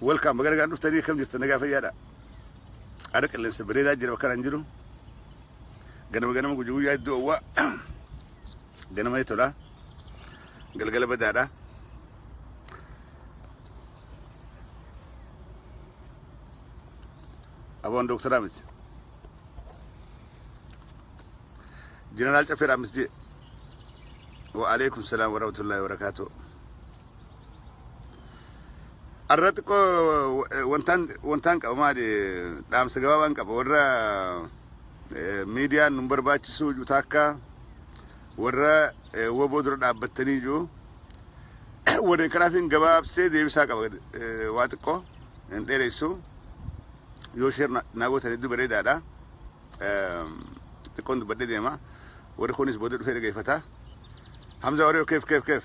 Welcome baga nagaan dhuftanii akkam jirtan nagaa fayyaadha. Aara qilleensa bareedaa jira bakka kanaan jiru. Ganama ganama guyyaa guyyaa iddoo owwaa. Ganama tolaa. Galgala badaadha. Aboon dooktaraa miti. Jeneraal Caffeeraa miti jee. Wa alaikum salaam wa rahmatullahi wa barakaatuh. Arra xiqqoo eh, wantaan wantaan qaba maali dhaamsa gabaabaan qaba warra eh, miidiyaan nun barbaachisuu jiru taakka warra eh, woboo dura dhaabbattanii jiru warra kanaafin gabaabsee deebisaa qaba eh, waa xiqqoo hin dheeressu yoo sheer na- naa gootan hedduu bareedaadha Eh, xiqqoon dubbadhee deema warri kunis booda dhufee dhageeffata Hamza warri keef keef keef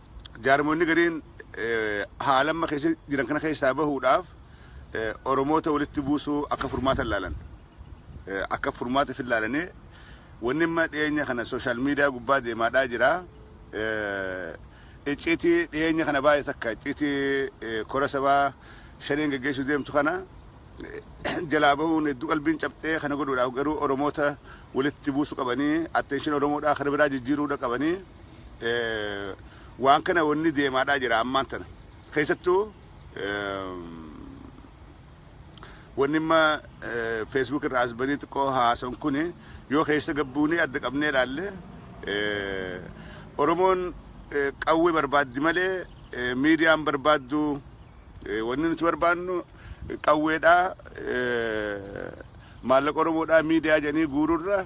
Jaarmoonni gariin haala amma keessa jiran kana keessaa bahuudhaaf Oromoota walitti buusuu akka furmaata ilaalan. Akka furmaata fi ilaalanii wanni amma dhiyeenya kana sooshaal miidiyaa gubbaa deemaadhaa jira. Icciitii dhiyeenya kana baay'ee takka icciitii kora sabaa shaneen geggeessuu deemtu kana jalaa bahuun hedduu qalbiin cabxee kana godhuudhaaf garuu Oromoota walitti buusuu qabanii atteenshin Oromoodhaa kana biraa jijjiiruudha qabanii waan kana wanni deemaadhaa jira ammaan tana keessattuu wanni amma feesbuuk irraa as banii xiqqoo haasan kun yoo keessa gabbuunee adda qabnee ilaalle oromoon qawwee barbaaddi malee miidiyaan barbaaddu wanni nuti barbaadnu qawweedhaa maallaqa oromoodhaa miidiyaa jedhanii guururra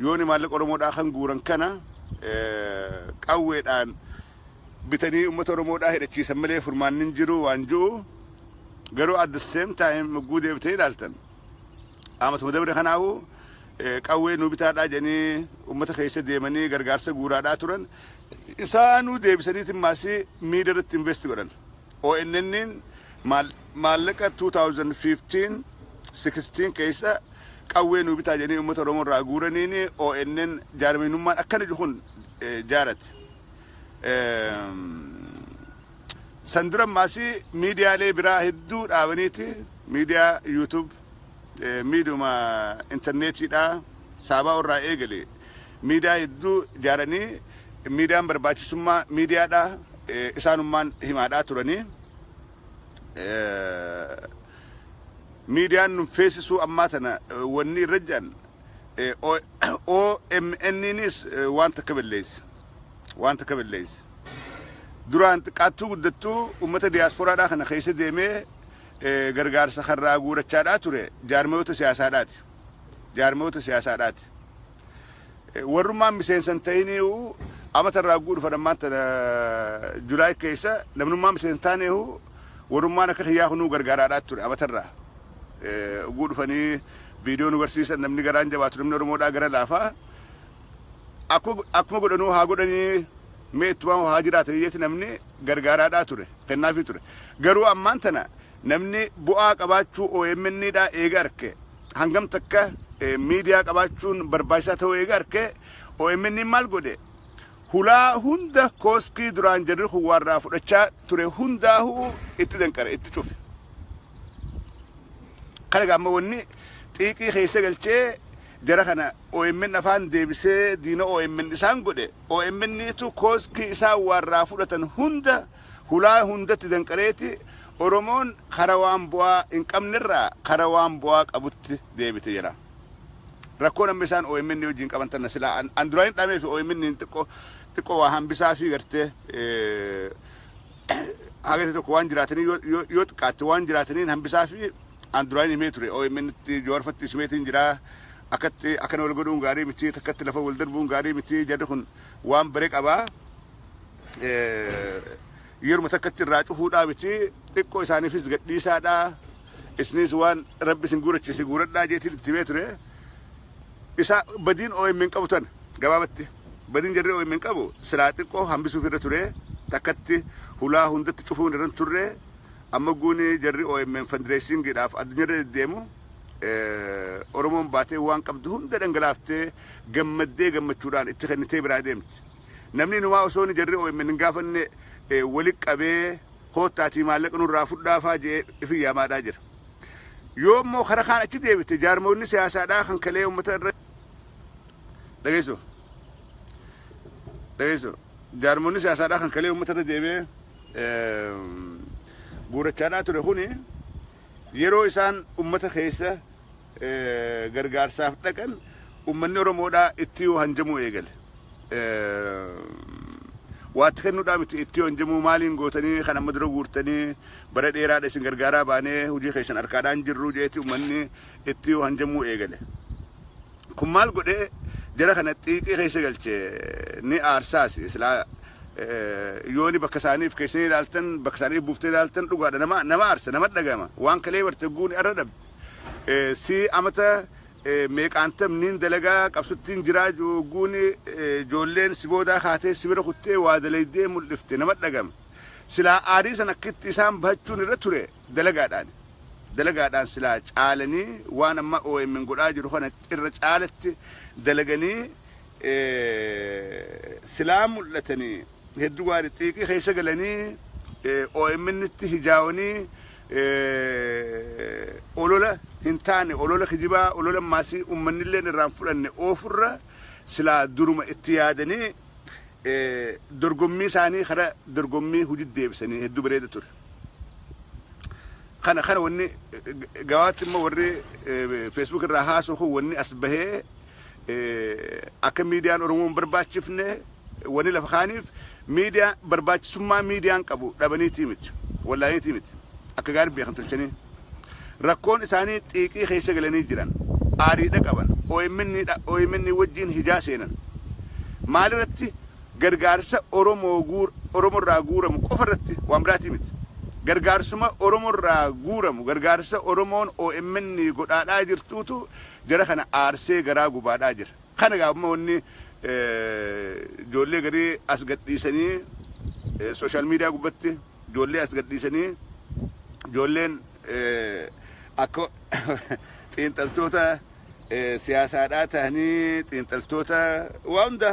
Yooni maallaqa Oromoodhaa kan guuran kana qawweedhaan bitanii uummata Oromoodhaa hidhachiisan malee furmaanni hin jiru waan jiru garuu at the same time mugguu deebitee ilaaltan aamatuma dabre kanaahu qawwee nuu bitaadhaa jedhanii uummata keessa deemanii gargaarsa guuraadhaa turan isaanuu deebisaniitiin maasii miida irratti investi godhan ONN'n maallaqa 2015, 16 keessa qawwee nuu bitaa jedhanii uummata Oromoo irraa guuraniin ONN jaarmiinummaan akkana jiru kun jaarate. San dura maasii miidiyaalee biraa hedduu dhaabaniiti miidiyaa YouTube, miidhuma interneetiidhaa saaba'uu irraa eegale miidiyaa hedduu ijaaranii miidiyaan barbaachisummaa miidiyaadhaa isaanummaan himaadhaa turanii miidiyaan nun feesisuu ammaa tana wanni irra jedhan OMNnis waan takka balleessa waan takka balleessa duraan xiqqaattuu guddattuu uummata diyaasporaadhaa kana keessa deemee gargaarsa karraa guurachaadhaa ture jaarmiyoota siyaasaadhaati. Jaarmiyoota siyaasaadhaati. Warrummaan miseensa hin ta'iniihu amata irraa guudhu fadhan maanta Julaay keessa namnummaa miseensa taaneehu warrummaan akka kiyyaa kunuu gargaaraadhaa ture amata irraa guudhu fanii viidiyoo nu garsiisan namni garaan jabaatu namni Oromoodhaa gara laafaa akkuma godhanuu haa godhanii mee ittuma haa jiraatan iyyati namni gargaaraadhaa ture, kennaafii ture. Garuu ammaan tana namni bu'aa qabaachuu omn dhaa eega arke, hangam takka miidiyaa qabaachuun barbaachisaa ta'uu eega arke, omn maal godhe? Hulaa hunda kooskii duraan jarri kun waa irraa fudhachaa ture hundaahuu itti danqare, itti cufe. Kana egaa amma wanni xiiqii keessa galchee jara kana omn afaan deebisee diina omn isaan godhe omn tu kooskii isaan waarraa fudhatan hunda hulaa hundatti danqareeti oromoon kara waan bu'aa hin qabnerraa kara waan bu'aa qabutti deebite jira rakkoon amma isaan omn wajjin qaban tanna silaa an, an duraan hin dhaamee fi omn xiqqoo xiqqoo waa hambisaa fi gartee eh, Haga ta'e tokko waan jiraataniin yoo- yoo yoo xiqqaatte waan jiraataniin hambisaa fi aan duraan himee ture OMN tti Jawaarfatti simeetiin jira akkatti akkana wal godhuun gaarii miti takkatti lafa wal darbuun gaarii miti jarri kun waan bare qabaa yeruma takkatti irraa cufuudhaa miti xiqqoo isaaniifis gadhiisaadhaa isnis waan rabbi isin guurachise guuradhaa jeetiin itti himee ture Isa badiin omn qabu tana. Gabaabatti badiin jarri omn qabu silaa xiqqoo hambisuuf irra ture takkatti hulaa hundatti cufuun irra hin turre amma guun jarri omn fandireesiingiidhaaf addunyaa irra deddeemu Oromoon baatee waan qabdu hunda dhangalaaftee gammaddee gammachuudhaan itti kennitee biraa deemti. Namni inumaa osoon jarri omn hin gaafanne wali qabee koottaatii maallaqa nurraa fudhaafaa jedhee ifi yaamaadhaa jira. Yoo immoo kara kaan achi deebite jaarmoonni siyaasaadhaa kan kalee uummata irra dhageessu. Dhageessu. Jaarmoonni siyaasaadhaa kan kalee uummata irra deebi'ee guurachaadhaa ture kuni yeroo isaan uummata keessa gargaarsaaf dhaqan uummanni Oromoodhaa itti yoo hanjamuu eegale. Waatti kennuudhaa miti itti yoo hanjamuu maaliin gootanii kan amma dura guurtanii Bara dheeraadha isin gargaaraa baanee hojii keessan harkaadhaa hin jirru jeeti ummanni itti hanjamuu eegale. Kun maal godhe jara kana xiiqii keessa galche ni aarsaas silaa yooni bakka isaaniif keessanii ilaaltan bakka isaaniif buuftee ilaaltan dhugaadha nama nama aarsa nama dhagama waan kalee barte guuni arra dhabde si amata meeqaantam niin dalagaa qabsuttiin jiraa guuni joolleen si boodaa kaatee si bira kuttee waa dalaydee mul'ifte nama dhagama. Silaa aarii san akkitti isaan bahachuun irra ture dalagaadhaani. Dalagaadhaan silaa caalanii waan amma omn godhaa jiru kana irra caalatti dalaganii silaa mul'atanii hedduu gaarii xiiqii keessa galanii omn itti hijaawanii olola hin taane olola kijibaa olola maasii ummannilleen irraan fudhanne oofurra silaa duruma itti yaadanii dorgommii isaanii kara dorgommii hojii deebisanii hedduu bareeda ture. Kana kana wanni gawaatti immoo warri feesbuuk irraa haasoo kun wanni as bahee akka miidiyaan Oromoon barbaachifne wanni lafa kaaniif miidiyaa barbaachisummaa miidiyaan qabu dhabaniitii miti. Wallaaniitii miti. Akka gaarii beekan tolchanii. Rakkoon isaanii xiiqii keessa galanii jiran. Aariidha qaban. OMN wajjiin hijaa seenan. Maalirratti? Gargaarsa Oromorraa guuramu qofarratti, waan biraatii miti. Gargaarsuma Oromorraa guuramu, gargaarsa Oromoon omn godhaadhaa jirtuutu jara kana aarsee garaa gubaadhaa jira. Kana egaa amma wanni ijoollee garii as gadhiisanii sooshaal miidiyaa gubbatti ijoollee as gadhiisanii ijoolleen akka xiinxaltoota siyaasaadhaa tahanii xiinxaltoota waa hunda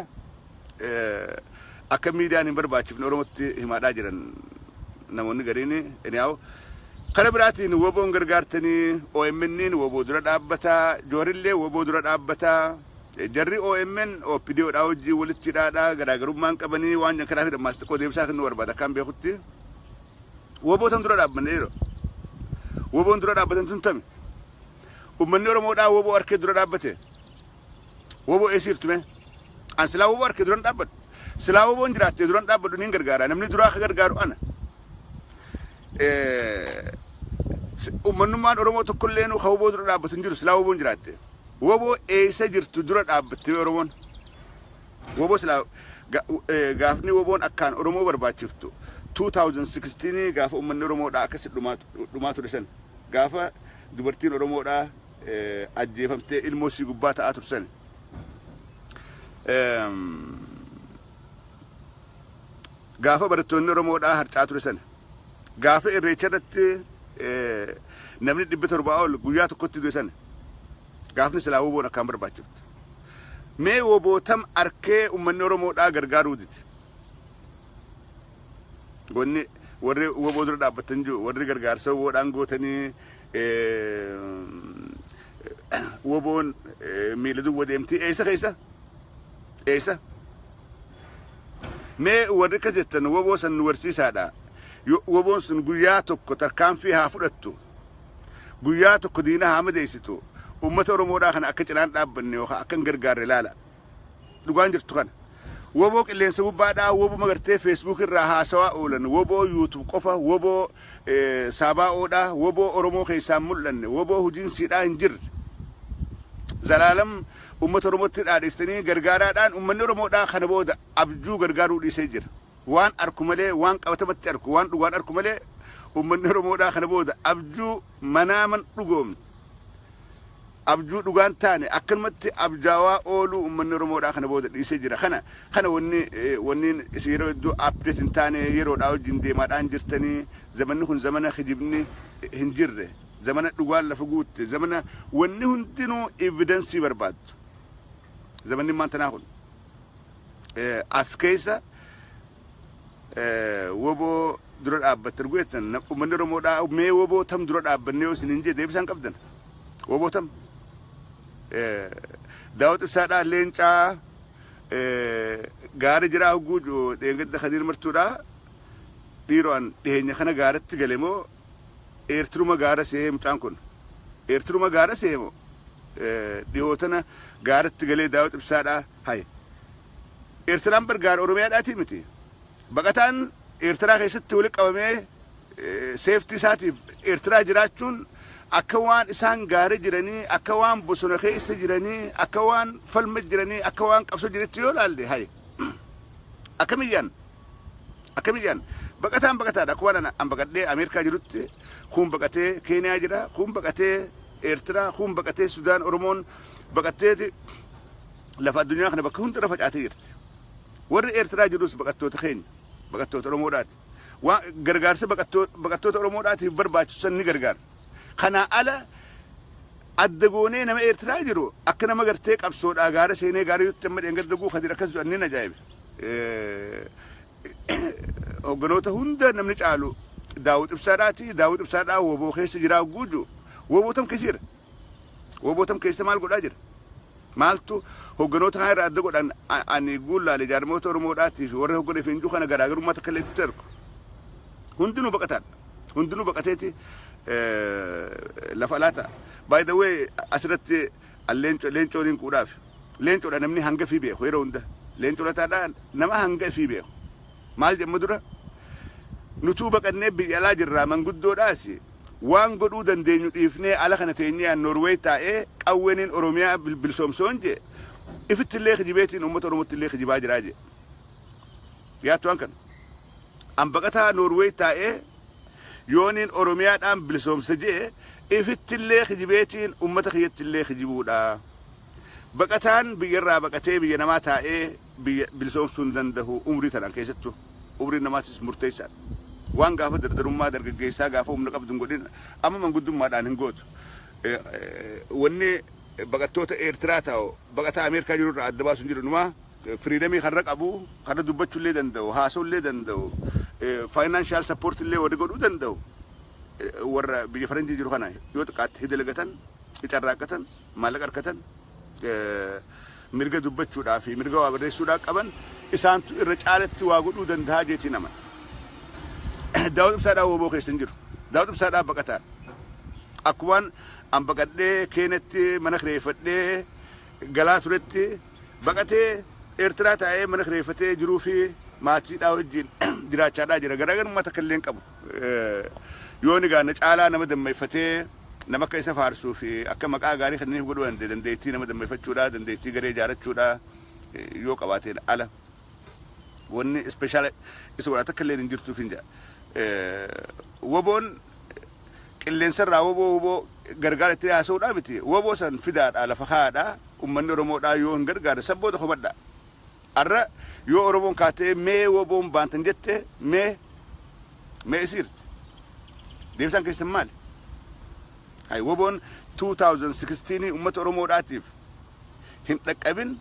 akka miidiyaan hin barbaachifne Oromootti himaadhaa jiran namoonni gariin anyhow kana biraatiin woboon gargaartanii OMN'n woboo dura dhaabbataa joorillee woboo dura dhaabbataa jarri OMN OPDOdhaa hojii walitti hidhaadhaa garaagarummaan qabanii waan jedhan kanaaf dhammaas xiqqoo deebisaa kennuu barbaada akkaan beekutti wobootan dura dhaabbanne yeroo woboon dura dhaabbatan tun tami ummanni Oromoodhaa woboo harkee dura dhaabbate Woboo eessa jirtu mee? An silaa woboo harkee duran dhaabbadhu. Silaa woboon jiraattee duran dhaabbadhu niin gargaara. Namni duraa akka gargaaru ana. Ummannummaan Oromoo tokkollee nu kan woboo dura dhaabbatu hin jiru silaa woboon jiraatte. Woboo eessa jirtu dura dhaabbattee Oromoon. Woboo silaa gaafni woboon akkaan Oromoo barbaachiftu 2016 gaafa ummanni Oromoodhaa akkasi dhumaa ture san gaafa dubartiin Oromoodhaa ajjeefamtee ilmoo sii gubbaa ta'aa tursan. Gaafa barattoonni Oromoodhaa harcaa ture sana gaafa irreecha irratti namni dhibba torbaa ol guyyaa tokkotti du'e sana gaafni silaa woboon akkaan barbaachiftu. Mee wobootam arkee uummanni Oromoodhaa gargaaruu dide. Wanni warri woboo dura dhaabbatan jiru warri gargaarsa woboodhaan gootanii Woboon miila duwwa deemti eessa keessa? Eessa? Mee warri akkas jettan woboo san nu barsiisaadha. Yo- Woboon sun guyyaa tokko tarkaanfii haa fudhattu. Guyyaa tokko diina haa madeessitu. Uummata Oromoodhaa kana akka cinaan dhaabbanne yookaan akka hin gargaarre ilaala. Dhugaan jirtu kana. Woboo qilleensa gubbaadhaa wobuma gartee Facebook irraa haasawaa oolan woboo YouTube qofa woboo saabaa'oodhaa woboo Oromoo keessaa hin mul'anne woboo hojiinsiidhaa hin jirre. Zalaalam uummata Oromootti dhaadhistanii gargaaraadhaan uummanni Oromoodhaa kana booda abjuu gargaaruu dhiisee jira. Waan arku malee waan qabatamatti arku waan dhugaan arku malee uummanni Oromoodhaa kana booda abjuu manaaman dhugoomne. abjuu dhugaan taane akkanumatti abjaawaa ooluu ummanni oromoodhaa kana booda dhiisee jira kana kana wanni wanniin isin yeroo hedduu update hin taane yeroodhaa wajjin deemaadhaa hin jirtanii zamanni kun zamana kijibni hin jirre zamana dhugaan lafa guutte zamana wanni hundinuu evidensii barbaaddu zamanni maantanaa kun as keessa wbo dura dhaabbatta ergu jettan ummanni Oromoo dhaa mee wbo tam dura dhaabbanne yoo isinin jee deebisaan qabdan wbo tam daawwat ibsaa dhaa leencaa gaari jiraa hogguu dheengadda kadiir martuu dhaa dhiiroo an dhiheenya kana gaaratti gale moo eertiruma gaara seehee mucaan kun eertiruma gaara seehee moo dhihootana gaaratti galee daawwat ibsaa dhaa Hay. Eertiraan bar gaara Oromiyaadhaatii miti. Baqataan Eertiraa keessatti walitti qabamee seeftii isaatiif Eertiraa jiraachuun akka waan isaan gaara jiranii, akka waan bosona keessa jiranii, akka waan falma jiranii, akka waan qabsoo jiranitti yoo ilaalle hay. Akkamiyyaan akkamiyyaan baqataan baqataadha. Akkuma an baqadhee Ameerikaa jirutti kun baqatee Keeniyaa jira, kun baqatee Eertiraa, kuun baqatee Sudaan, Oromoon baqatteeti lafa addunyaa kana bakka hundarra facaatee jirti. Warri Eertiraa jirus baqattoota keenya, baqattoota Oromoodhaati. Waa gargaarsa baqattoo- baqattoota Oromoodhaatiif barbaachisu san ni gargaara. Kanaa ala adda goonee nama Eertiraa jiru akka nama gartee qabsoodhaa gaara seenee gaara yuutti amma dheengadda guu kadir akkas jedhan nin ajaa'ibe. Eh, hogganoota hunda namni caalu daawwit ibsaadhaati daawwit ibsaadhaa woboo keessa jiraa guuju woboo tam keessa jira woboo tam keessa maal godhaa jira maaltu hogganoota kana irraa adda godhan a- ani guullaale jaarmoota oromoodhaatiif warra hoggana fincuu kana garaagarummaa takka illee itti argu hundinuu baqataadha hundinuu baqateeti eh, lafa alaa ta'a by the way asirratti An leenco leencoo nin quudhaaf. Leencodha namni hanga ifii beeku yeroo hunda. Leenco lataadha nama hanga ifii beeku. Maal jedhma dura? Nutuu baqannee biyya alaa jirraa manguddoodhaas waan godhuu dandeenyu dhiifnee ala kana teenyee an Norway taa'ee qawweenin Oromiyaa bilsoomsa yoon jedhe ifittillee kijibeetiin uummata Oromottillee kijibaa jiraa jedhe. Yaattu waan kana? An baqataa Norway taa'ee yooniin Oromiyaadhaan bilisoomsa je'e ifittillee kijibeetiin ummata kiyyattillee kijibuudha. Baqataan biyyarraa baqatee biyya namaa taa'ee biyya bilisoomsuu hin dandahu umrii tanaan keessattuu. Umriin namaatis murteessaadha. Waan gaafa dardarummaa dargaggeessaa gaafa humna qabdu hin godhin amma manguddummaadhaan hin gootu. Wanni baqattoota Eertiraa ta'u baqataa Ameerikaa jirurraa adda baasu hin jiru inumaa. Freedom karra qabu, karra dubbachu illee danda'u, haasawu illee danda'u, financial support illee warri godhuu danda'u warra biyya faranjii jiru kana yoo xiqqaatte hidalagatan, hicarraaqqatan, maallaqa argatan, mirga dubbachuudhaa fi mirga waa barreessuudhaa qaban isaantu irra caalatti waa godhuu danda'a jeetii nama. Daawud Ibsaadhaa wooboo keessa hin jiru. Daawud Ibsaadhaa baqataadha. Akkumaan an baqadhee keenetti mana kireeffadhee galaa turetti baqatee Eertiraa taa'ee mana kireeffatee jiruu fi maatiidhaa wajjin jiraachaadhaa jira. Garaagarummaa takka illee hin qabu. Yoon egaa na caalaa nama dammayfatee nama akka isa faarsuu fi akka maqaa gaarii kenniif godhuu danda'e dandeettii nama dammayfachuudhaa dandeettii garee ijaarachuudhaa yoo qabaateen ala. Wanni special isa godha takka illee hin jirtuuf hin jedha. Woboon qilleensarraa woboo woboo gargaara itti haasa'uudhaa miti. Woboo san fidaadhaa lafa kaa'aadhaa ummanni Oromoodhaa yoo hin gargaarre san booda hubadhaa. Arra yoo Oromoon kaatee mee woboon baantan jette mee mee isiirti. Deebisaan keessan maali? Hay woboon 2016 ummata Oromoodhaatiif hin dhaqqabin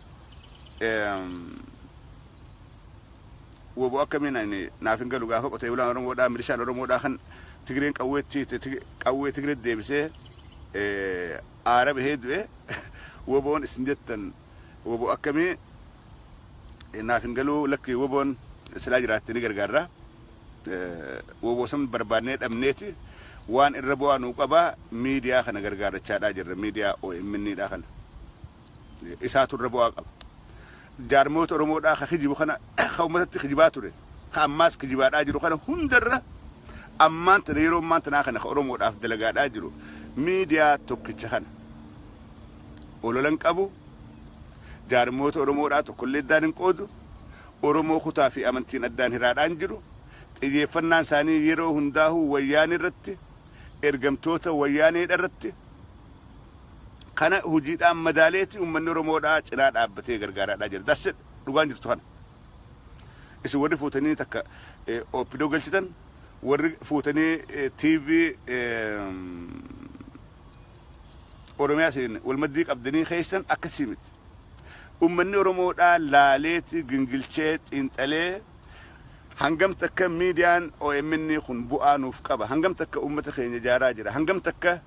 woboo akkamiin ani naaf hin galu gaafa qotee bulaan Oromoodhaa milishaan Oromoodhaa kan Tigireen qawweetti qawwee Tigiree deebisee aara bahee du'e woboon isin jettan woboo akkamii naaf hin galuu lakki woboon silaa jiraatte ni gargaarra. wowosan barbaadnee dhabneeti waan irra bu'aa nuu qabaa miidiyaa kana gargaarachaadhaa jirra miidiyaa OMN dhaa kana isaatu irra bu'aa qaba jaarmoota Oromoodhaa ka kijibu kana ka ummatatti kijibaa ture ka ammaas kijibaadhaa jiru kana hundarra ammaan tana yeroo ammaan tanaa kana ka Oromoodhaaf dalagaadhaa jiru miidiyaa tokkicha kana ololan qabu jaarmoota Oromoodhaa tokkollee iddaan hin qoodu Oromoo kutaa fi amantiin addaan hiraadhaan jiru xiyyeeffannaan isaanii yeroo hundaahuu wayyaanee irratti, ergamtoota wayyaanee dha irratti. Kana hujiidhaan madaaleeti uummanni Oromoo dhaa cinaa dhaabbatee gargaaraa dhaa jira. That's it. Dhugaan jirtu kana. Isin warri fuutanii takka OPDO galchitan, warri fuutanii TV Oromiyaa isin walmaddii qabdanii keessan akkasii miti. ummanni Oromoodhaa laaleeti gingilchee xiinxalee hangam takka miidiyaan omn kun bu'aa nuuf qaba, hangam takka ummata keenya ijaaraa jira, hangam takka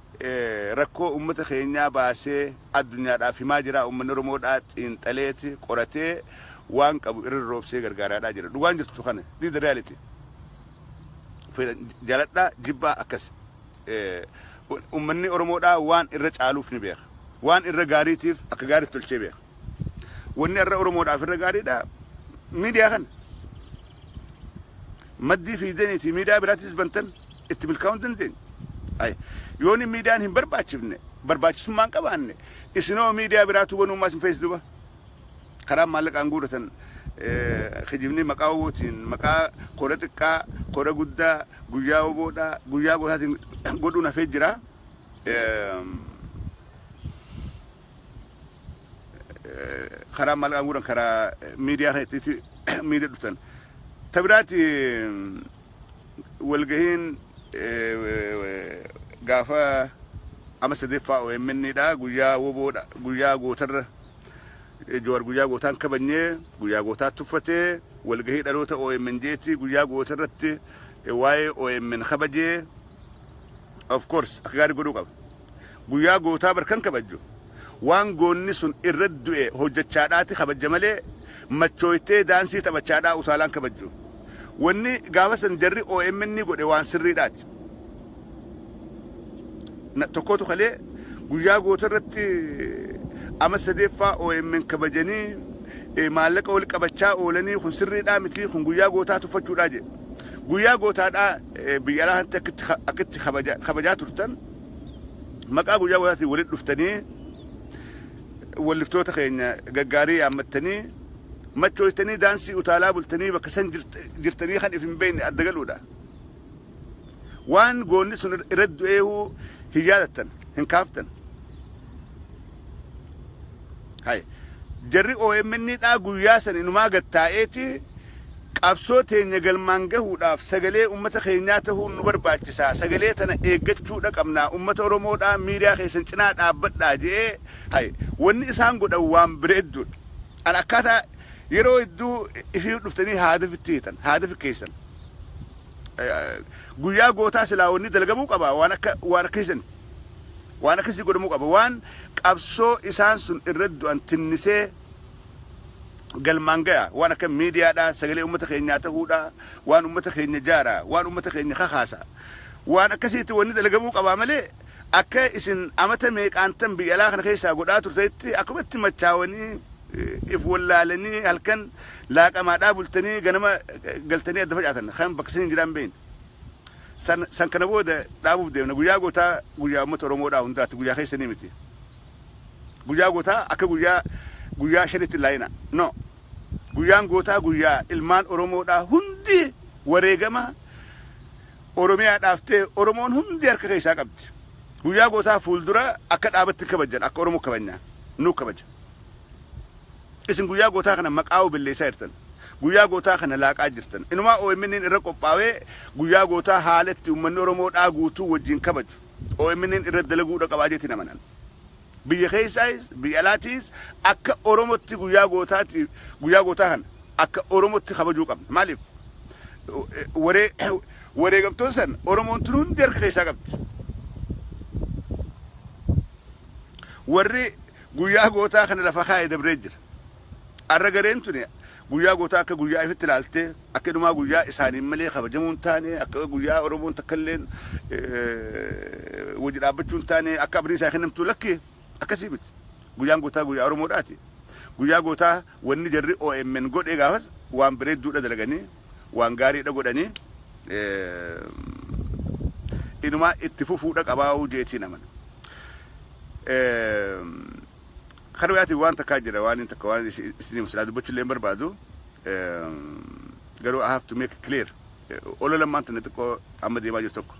rakkoo ummata keenyaa baasee addunyaadhaaf himaa jiraa ummanni Oromoodhaa xiinxaleeti qoratee waan qabu irra roobsee gargaaraadhaa jira. Dhugaan jirtu kana. This the reality. Fedhan jaladhaa jibbaa akkas. Ummanni Oromoodhaa waan irra caaluuf ni beeka. Waan irra gaariitiif akka gaariitti tolchee beeka. Wanni har'a Oromoodhaaf irra gaariidha miidiyaa kana. Maddii fiidaniitii miidiyaa biraatiis bantan itti milkaa'uu hin dandeenye. Ay, yoon hin miidiyaan hin barbaachifne, barbaachisummaa hin qabaanne, isinoo miidiyaa biraatuu banuu maas hin feesdu ba. Karaan maallaqaan guuratan eh, kijibni maqaa obootiin, maqaa kora xiqqaa, kora guddaa, guyyaa oboodhaa, guyyaa gootaatiin godhuun hafee jira. karaa maal qabuudhaan karaa miidiyaa kan itti miidiyaa dhuftan. Ta biraati walgahiin gaafa ama sadeeffaa OMN dha guyyaa woboo dha guyyaa gootarra Jowaar guyyaa gootaan kabajnee guyyaa gootaa tuffatee walgahii dhaloota OMN jeetti guyyaa gootarratti waa'ee OMN kabajee of course akka gaarii godhuu qaba guyyaa gootaa bar kan kabajju waan goonni sun irra du'e hojjechaadhaati kabajja malee machooytee daansii taphachaadhaa utaalaan kabajju wanni gaafa san jarri OMN ni godhe waan sirriidhaati Na- tokkotu kalee guyyaa goota irratti ama sadeeffaa OMN kabajanii eh, maallaqa wal qabachaa oolanii kun sirriidhaa miti kun guyyaa gootaa tuffachuudhaa jedhe Guyyaa gootaadhaa biyya alaa kanatti akkitti ka- akkitti kabaja- kabajaa turtan maqaa guyyaa gootaatiin walitti dhuftanii walliftoota keenya gaggaarii yaammattanii machooytanii daansii utaalaa bultanii bakka san jirt- jirtanii kan if hin beekne adda galuudha. Waan goonni sun irra du'eehuu hin yaadattan hin kaaftan. Hay. Jarri OMN dhaa guyyaa san inumaa gad taa'eeti qabsoo teenya galmaan gahuudhaaf sagalee ummata keenyaa tahuun nu barbaachisaa sagalee tana eeggachuudha qabnaa ummata Oromoo dhaa miidiyaa keessan cinaa dhaabbadhaa je'ee hay wanni isaan godhan waan bareedduudha. An akkaataa yeroo hedduu ifii dhuftanii haadafitti hiitan haadafi keessan. guyyaa gootaa silaa wanni dalgamuu qaba waan akka waan akka isin waan akkasii godhamuu qaba waan qabsoo isaan sun irra du'an tinnisee galmaan gaya waan akka miidiyaadha sagalee uummata keenyaa ta'uudha waan uummata keenya jaara waan uummata keenya kakaasa waan akkasiitti wanni dalgamuu qabaa malee Akka isin amata meeqaantan biyya alaa kana keessaa godhaa turtanitti akkumatti machaawanii, if wallaalanii halkan laaqamaadhaa bultanii ganama galtanii adda facaatan kan bakka isin hin jiraan beekne. San, san kana booda dhaabuuf deemna. Guyyaa gootaa guyyaa uummata Oromoodhaa hundaatti guyyaa keessanii miti. Guyyaa gootaa akka guyyaa guyyaa shanitti hin laayina. No. Guyyaan gootaa guyyaa ilmaan Oromoodhaa hundi wareegama Oromiyaadhaaf ta'e Oromoon hundi harka keessaa qabdi. Guyyaa gootaa fuuldura akka dhaabatti hin kabajjan akka Oromoo kabajna. Nuu kabaja. Isin guyyaa gootaa kana maqaa obelleessaa jirtan. Guyyaa gootaa kana laaqaa jirtan. Inumaa OMN'n irra qophaawee guyyaa gootaa haala itti ummanni Oromoo dhaa guutuu wajjin kabaju OMN'n irra dalaguudha qabaa jeetiin amanan. Biyya keessaayis biyya alaatiis akka Oromotti guyyaa gootaati guyyaa gootaa kana akka Oromotti kabajuu qabna. Maaliif? Waree wareegamtoota san Oromoon tun hundi harka keessaa qabdi. Warri guyyaa gootaa kana lafa kaa'e dabree jira. Arra gareen tuni Guyyaa gootaa akka guyyaa ifitti ilaaltee akka inumaa guyyaa isaaniin malee kabajamuu hin taane akka guyyaa Oromoon takka illeen wajji dhaabbachuu hin taane akka abdiin isaa kennamtu lakki akkasii miti. Guyyaan gootaa guyyaa Oromoodhaati. Guyyaa gootaa wanni jarri OMN godhee gaafas waan bareedduudha dalaganii waan gaariidha godhanii inumaa itti fufuudha qabaa'uu jeetiin amana. Kara biraatiin waan takkaa jira waan takka waan isin himu silaa dubbachuu illee hin barbaadu garuu I have to make it clear olo lammaan tana xiqqoo amma deemaa jiru tokko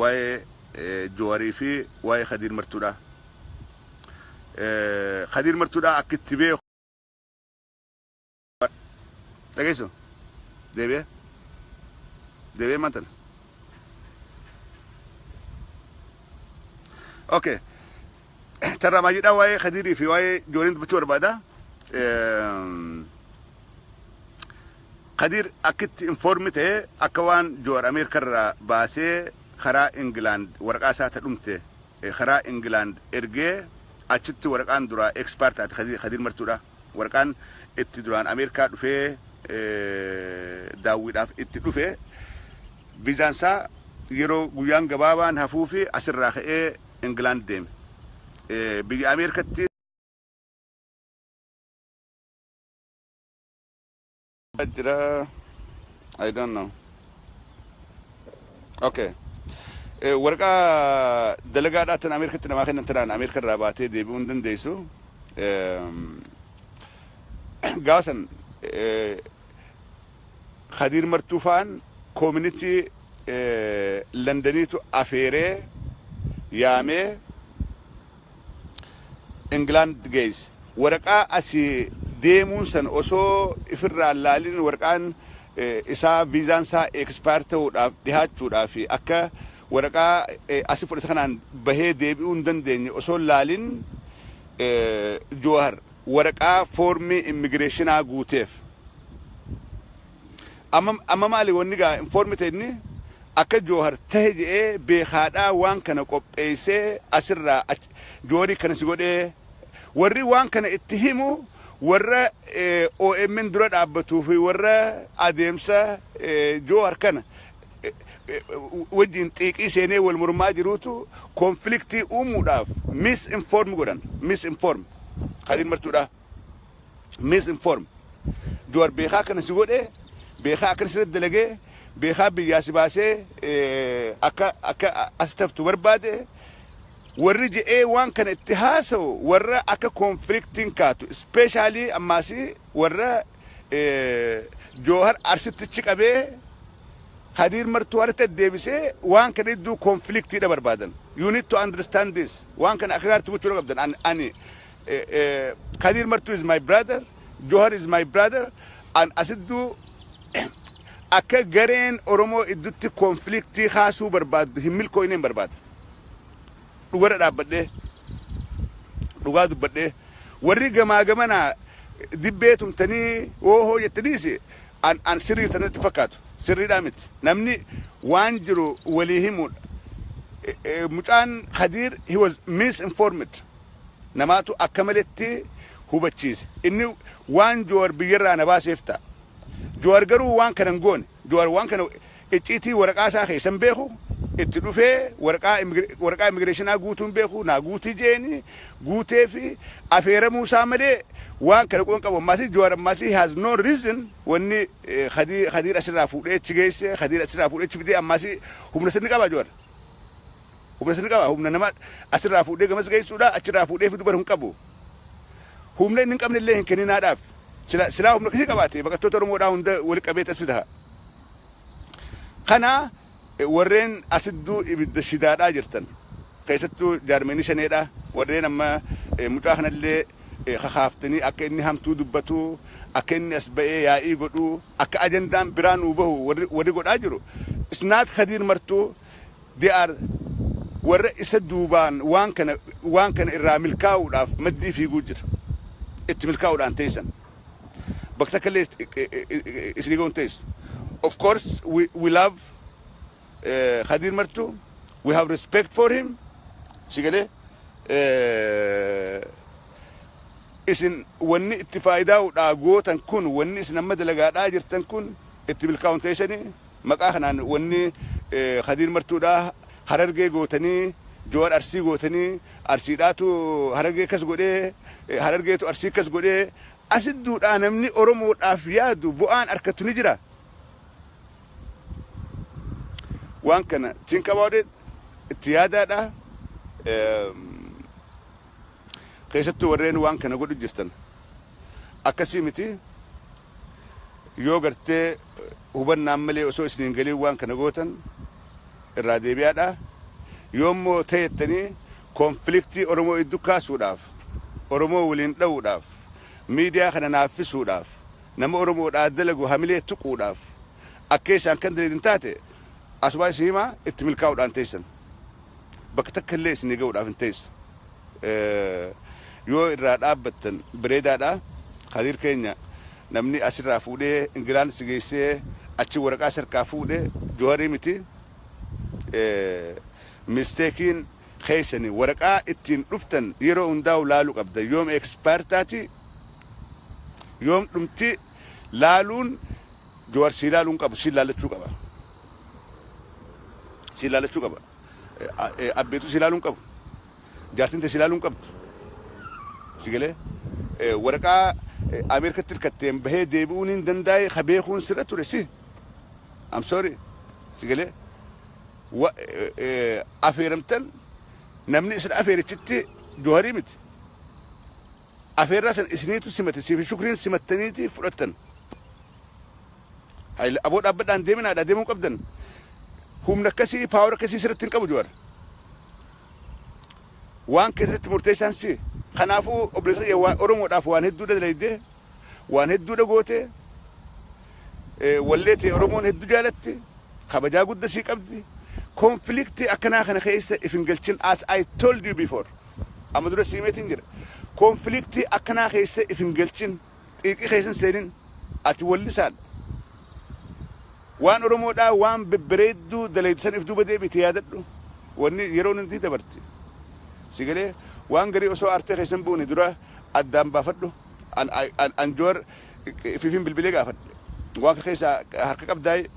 waa'ee Joowarii fi waa'ee Kadiir Martuudhaa. Kadiir Martuudhaa akka itti beeku Dhageessu. Deebi'ee. Deebi'ee maal tana? Okay. Tarraa maajiidhaa waa'ee Kadiirii fi waa'ee Jooliin dubbachuu barbaada. Ehm, Kadiir akkitti informi ta'e akka waan Joor Ameerikarraa baasee karaa Ingilaand waraqaa isaa ta dhumte karaa England ergee achitti waraqaan duraa expire taate Kadir, Kadir Martuudha. Waraqaan itti duraan Ameerikaa dhufee daawwiidhaaf itti dhufe viizaan isaa yeroo guyyaan gabaabaan hafuu fi asirraa ka'ee England deeme. Biyya Ameerikatti jira I don't know. Okay. Eh, Waraqaa dalagaadhaa tan Ameerikatti namaa kennan tanaan Ameerika irraa baatee deebi'uu hin dandeessu. Ehm, Gaasan eh, Khadiir Martuu fa'aan koominitii eh, Landaniitu afeeree yaamee England geesse. Waraqaa asi deemuun san osoo ifirraa hin laalin waraqaan isaa viizaan isaa expire ta'uudhaaf dhihaachuudhaaf akka waraqaa asi fudhate kanaan bahee deebi'uu hin dandeenye osoo hin laalin Jowahar waraqaa foormii immigireeshinaa guuteef. Amma amma maali wanni gaa inform ta'e inni akka joohar tahe je'ee beekaadhaa waan kana qopheeysee asirraa ach jooharii kana si godhee warri waan kana itti himu warra omn dura dhaabbatuu fi warra adeemsa joohar kana wajjiin xiiqii seenee wal mormaa jiruutu konfiliktii uumuudhaaf misinform godhan misinform kadiin martuudhaa. misinform juwar beekaa kana si godhe beekaa akkana sirratti dalagee beekaa biyyaa si baasee akka akka as taftu barbaade warri je'ee waan kana itti haasa'u warra akka konfliktiin kaatu ispeeshaalii ammaasi warra joohar arsittichi qabee kadiir martuu harka deebisee waan kana idduu konfliktiidha barbaadan you need to understand this waan kana akka gaaritti gochuu qabdan ani Eh, eh, Kadir Martu is my brother, Johar is my brother, and Asiddu akka gareen Oromoo iddutti konfliktii kaasuu barbaaddu hin milkooyne hin barbaadu. Dhugarra dhaabbadhee, dhugaa dubbadhee, warri gamaa gamanaa dibbee tumtanii oohoo jettaniis an, an sirrii tanatti fakkaatu. Sirriidhaa miti. Namni waan jiru walii himuudha. Eh, eh, Mucaan Kadir, he was misinformed. namaatu akka maletti hubachiise. Inni waan Jowar biyyarraa na baaseef ta'a. Jowar garuu waan kana hin goone. Jowar waan kana icciitii waraqaa isaa keessa hin beeku. Itti dhufee waraqaa waraqaa immigireeshinaa guutuu hin beeku. Naa guutii jeeni guutee fi afeeramuu isaa malee waan kana quban qabu. Ammaasii Jowar ammaasii he has no reason wanni Khadii Khadiir asirraa fuudhee achi geesse Khadiir asirraa fuudhee achi fidee ammaasii humna sirni qabaa Jowar? Humna sirri qaba humna nama asirraa fuudhee gamas geessuudha achirraa fuudhee fidu bar hin qabu. Humna inni hin qabne illee hin kenninaadhaaf. Sila silaa humna akkasii qabaate baqattoota Oromoodhaa hunda wali qabeet as fida. Kana warreen asidduu ibidda shidaadhaa jirtan keessattuu jaarmeenii shaneedhaa warreen amma mucaa kanallee kakaaftanii akka inni hamtuu dubbatu akka inni as ba'ee yaa'ii godhu akka ajandaan biraa nuu bahu warri godhaa jiru. Isnaat Kadiir martuu They are warra isa duubaan waan kana waan kana irraa milkaa'uudhaaf maddii fiiguu jira. Itti milkaa'uudhaan teessan. Bakka takka illee isinii ga'uun teessu. Of course we, we love uh, Khadir Martu. We have respect for him. Si galee eh, isin wanni itti faayidaa'uudhaa gootan kun wanni isin amma dalagaadhaa jirtan kun itti milkaa'uun teessanii Maqaa kanaan wanni Kadiir Martuudha Harargee gootanii, Jowar Arsii gootanii, Arsiidhaatu Harargee akkas godhee, Harargeetu Arsii akkas godhee, asitti duudhaa namni Oromoodhaaf yaadu bu'aan arkatu ni jira? Waan kana think about it, itti yaadaadha. Keessattuu warreen waan kana godhu jirtan akkasii miti. Yoo gartee hubannaan malee osoo isin hin galin waan kana gootan irraa deebi'aadha. Yoo immoo ta'ettanii konfiliktii Oromoo iddu kaasuudhaaf, Oromoo waliin dha'uudhaaf, miidiyaa kana naaffisuudhaaf, nama Oromoodhaa dalagu hamilee tuquudhaaf akkeessaan kan daleedin taate asumaa isin himaa itti milkaa'uudhaan teessan bakka takka illee isinii ga'uudhaaf hin teessu. yoo irraa dhaabbattan bareedaadha. Kadiir keenya namni asirraa fuudhee Ingilaand si geessee achi waraqaa si harkaa fuudhe Joharii miti. Misteekiin keessani waraqaa ittiin dhuftan yeroo hundaa'u laalu qabda. Yoom expire taati yoom dhumti laaluun Johar sii laaluu hin qabu siin laalachuu qaba. Siin laalachuu qaba. Abbeetu si ilaaluu hin qabu. Jaartiin tee si ilaaluu hin qabdu. Si galee? Waraqaa Ameerikatti hirkatteen bahee deebi'uun hin dandaaye ka beekuun sirra ture si. I'm sorry. Si galee? Afeeramtan namni isin afeerichitti Jooharii miti. Afeerraa sana isiniitu simate siif shukriin simattaniiti fudhattan. Hayil aboo dhaabbadhaa hin deeminaa dha deemuu qabdan. Humna akkasii paawar akkasii sirratti hin qabu Jawaar. Waan keessatti murteessaan si. Kanaafuu obboleessa kiyya waan Oromoodhaaf waan hedduu dalaydee waan hedduu dhagootee wallee ta'e Oromoon hedduu jaalatti kabajaa gudda sii qabdi. Konfiliiktii akkanaa kana keessa if hin galchin as I told you before. Amma dura sii himeetiin jira. Konfiliiktii akkanaa keessa if hin galchin, xiiqii keessa hin seenin. Ati wallisaan. Waan Oromoodhaa waan bebbereedduu dalayde san if duuba deebiite yaadadhu. Wanni yeroon hundii dabarti. Si galee? Waan garii osoo aartee keessa hin buune dura addaan baafadhu. An, I, an, an Jowar ifiifin bilbilee gaafadhe. Waan kana keessaa harka qabdaayii?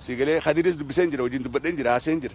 Si galee? Kadiris dubbiseen jira, wajjin dubbadheen jira, haaseen jira.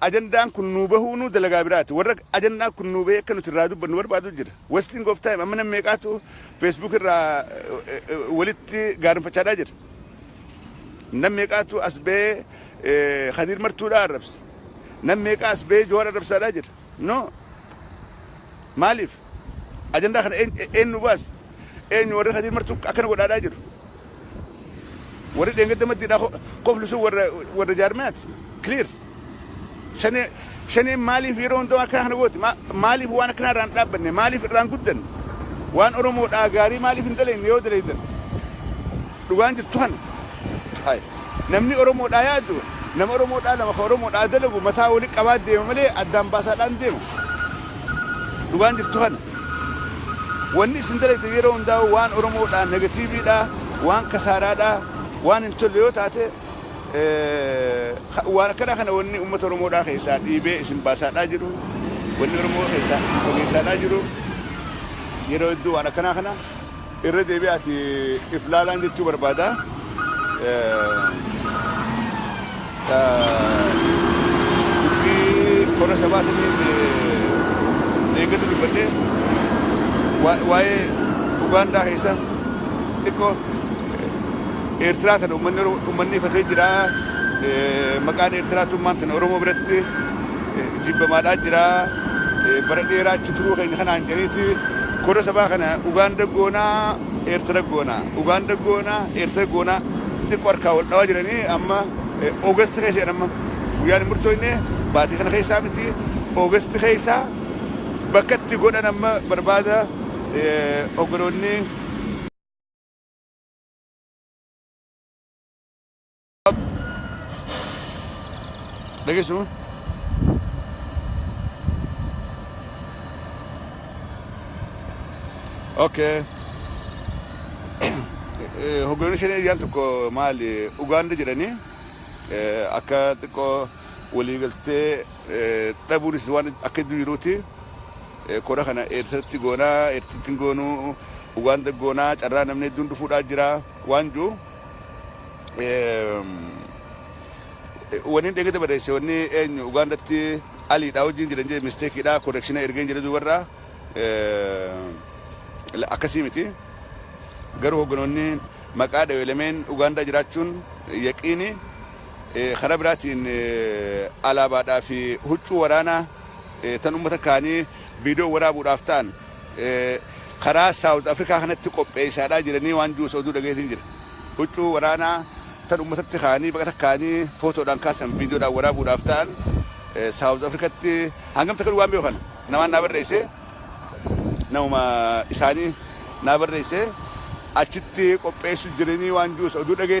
Ajandaan kun nuu bahuunuu dalagaa biraati. Warra ajandaan kun nuu bahee akka nuti irraa dubbannu barbaadu jira. Wasting of time amma namni meeqaatu Facebook irraa walitti gaarinfachaadhaa jira. Namni meeqaatu as bahee Khadiir Martuudhaa arrabsa. Namni meeqaa as bahee Johaar arrabsaadhaa jira. No. Maaliif? Ajandaa kana eenyu baase? Eenyu warri Kadiir martuu akkana godhaadhaa jiru? Warri dheengadda maddiidhaa koflu sun warra jaarmiyaati. Clear. Shanee shaneen maaliif yeroo hundaa akkana kana gooti? Maaliif waan akkanaa irraan dhaabbanne? Maaliif irraan guddanne? Waan Oromoodhaa gaarii maaliif hin daleenne yoo daleeydan? Dhugaan jirtu kana. Hay. Namni Oromoodhaa yaadu, nama Oromoodhaa lama ka Oromoodhaa dalagu mataa wali qabaa deema malee addaan baasaadhaan deemu. Dhugaan jirtu kana. Wanni isin dalagdan yeroo hundaa'uu waan Oromoodhaa negatiiviidhaa, waan kasaaraadhaa, waan hin tolle yoo taate waan akkanaa kana wanni ummata Oromoodhaa keessaa dhiibee isin baasaadhaa jiru, wanni Oromoo keessaa isin fageessaadhaa jiru yeroo hedduu waan akkanaa kana. Irra deebi'aati if laalaan jechuu barbaada. Dubbii kora sabaatiif deeggatu dubbadhee waa'ee Ugaandaa keessa xiqqoo Eertiraa tana uummanni ifatee jira. Maqaan Eertiraatummaan tana Oromoo biratti jibbamaadhaa jira. Bara dheeraa achi turuu keenya kanaan jedhaniiti kora sabaa kana Ugaanda goonaa Eertira goonaa Ugaanda goonaa Eertira goonaa xiqqoo harkaa wal dhawaa jiranii amma Oogasti keessa jedhan amma guyyaan hin murtooyne baatii kana keessaa miti Oogasti keessa bakka itti godhan amma barbaada oggoloonni dhageessu okay hogganni shanee iyyaan tokko maali ugaanda jedhanii akka xiqqoo waliigaltee dhabuunis waan akka iddoo jiruuti kora kana eertiratti goonaa eertitti goonuu ugaanda goonaa carraa namni hedduun dhufuudhaa jira waan jiru Wanni dheegate barreesse wanni eenyu Ugaandatti aliidhaa wajjin jiran jee misteekiidhaa konekshinaa ergeen jedhe duubarraa akkasii miti. Garuu hogganoonni maqaa dhawee lameen Ugaandaa jiraachuun yaqiini karaa biraatiin alaabaadhaa fi huccuu waraanaa tan uummata kaanii viidiyoo waraabuudhaaf ta'an karaa South Africa kanatti qopheessaadhaa jiranii waan juus oduu dhageetiin jira. Huccuu waraanaa tan ummatatti kaanii baqa takkaanii footoodhaan kaasan viidiyoodhaan waraabuudhaaf ta'an South Africatti hangam takka waan beeku kana namaan naa barreesse namuma isaanii naa barreesse achitti qopheessu jiranii waan juus oduu dhageetiin